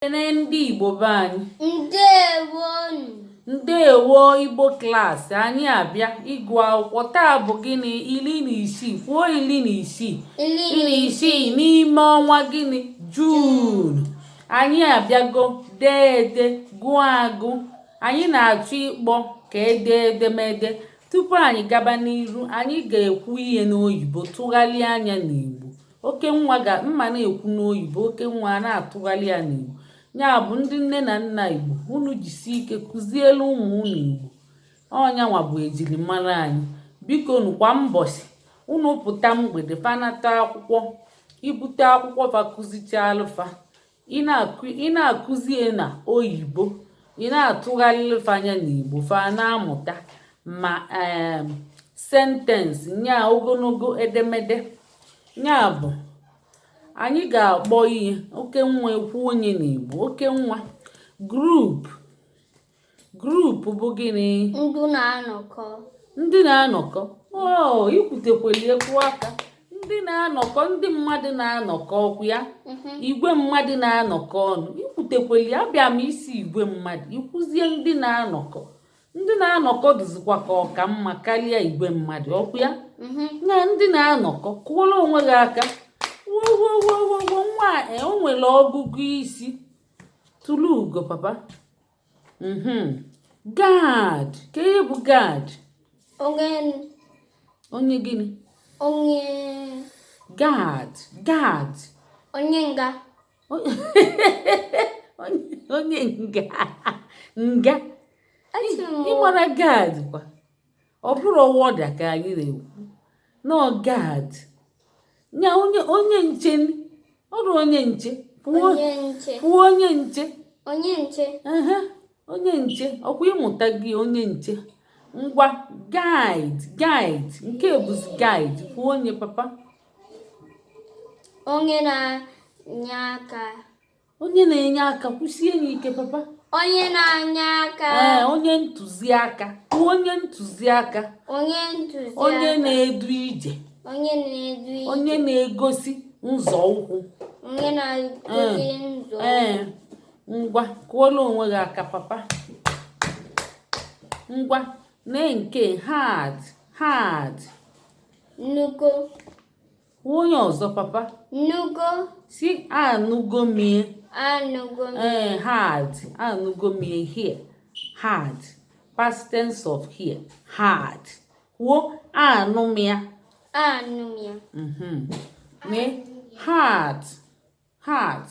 ekene ndị igbo be anyị ndewonu ndewo igbo klaasị anyị abịa ịgụ akwụkwọ taa bụ gịnị iri na isii kwuo iri na isii iri na isii n'ime ọnwa gịnị jun anyị abịago dee ede gụọ agụ anyị na-achọ ịkpọ ka ede edemede tupu anyị gaba n'iru anyị ga-ekwu ihe n'oyibo tụgharịa nya n'igbo okenwa aga m a na-ekwu n'oyibo okenwa a na-atụgharị ya n'igbo nya bụ ndị nne na nna igbo unu jisi ike kụzielụ ụmụ unu igbo ọ nyanwa bụ ejirimara anyị bikonu kwa mbọsị unu pụta mgbede fa nata akwụkwọ i bute akwụkwọ fa kụzichaalụ fa ị na-akụzi ya na oyibo ị na-atụgharịlụ fa nya n'igbo fa na-amụta ma ee sentensị nya ogologo edemede nya bụ anyị ga-akpọ ihe okenwa ekwuo nya n'igbo okenwa group Gruup bụ gịnị? Ndị na-anọkọ. Ndị na-anọkọ. Oo, i kwutekweli ekwu aka. Ndị na-anọkọ, ndị mmadụ na-anọkọ ọkwa ya. Mhm. Igwe mmadụ na-anọkọ ọnụ. I kwutekweli abịa m ịsị igwe mmadụ. I kwuzie ndị na-anọkọ. Ndị na-anọkọ dịzikwa ka ọ ka mma karịa igwe mmadụ ọkwa ya. Mhm. Na ndị na-anọkọ kụọrọ onwe gị aka. Wowowowowo nwa a, e, o nwere ọgụgụ isi. Tụrụ ugo papa. mhm. gad kee ihe bụ gad onye onye gịnị onye gad gad onye nga onye nga nga ị mara gad kwa ọ bụrọ wọda ka anyị na-ekwu na ọ gad nya onye onye nche ọrụ onye nche kwuo onye nche onye nche onye nche ọkwa ị mụtago onye nche ngwa gaid gaid nke bụzi gaid kwuo onye papa onye na-enye aka onye na-enye aka kwusie nya ike papa onye na-enye aka ee onye ntụziaka onye ntụziaka onye ntụziaka onye na-edu ije onye na-edu ije onye na-egosi nzọ ụkwụ onye na-egosi nzọ ee ngwa kụọla onwe gị aka papa ngwa na nke hard hard nnukwu onye ọzọ papa nụgo sị anụgo m ya anụgo m ya ee eh, heard anụgo m ya hear heard past tense of hear heard kwuo anụ m ya anụ m ya mhm. mee heart heart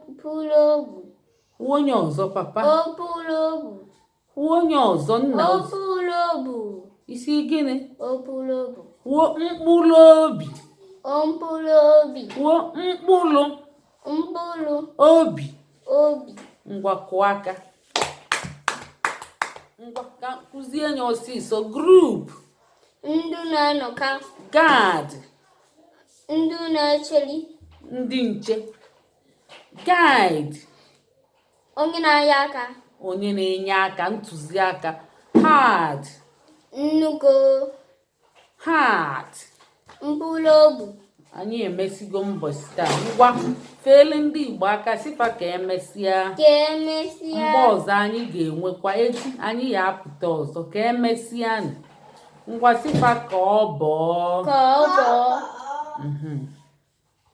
mkpụrụ obu onye ọzọ papa mkpụrụ obu Kwuo onye ọzọ nna mkpụrụ obi. Ị sị gịnị? Mkpụrụ obi. Kwuo mkpụrụ obi. Mkpụrụ obi. Kwuo mkpụrụ. Mkpụrụ. Obi. Obi. Ngwa kụọ aka. Ngwa ka kụzie anya ọsịsọ. Group. Ndị na-anọkọ. Guard. Ndị na-echeli. Ndị nche. Guide. onye na-enye aka onye na-enye aka ntụziaka heard nụgo heart mkpụrụ obi anyị emesigo mbọsị taa ngwa feele ndị igbo aka sị fa ka emesịa ka emesịa mgbe ọzọ anyị ga-enwekwa echi anyị ya-apụta ọzọ ka emesịa nụ. ngwa sị fa ka ọ bọọ ka ọ bọọ Mhm.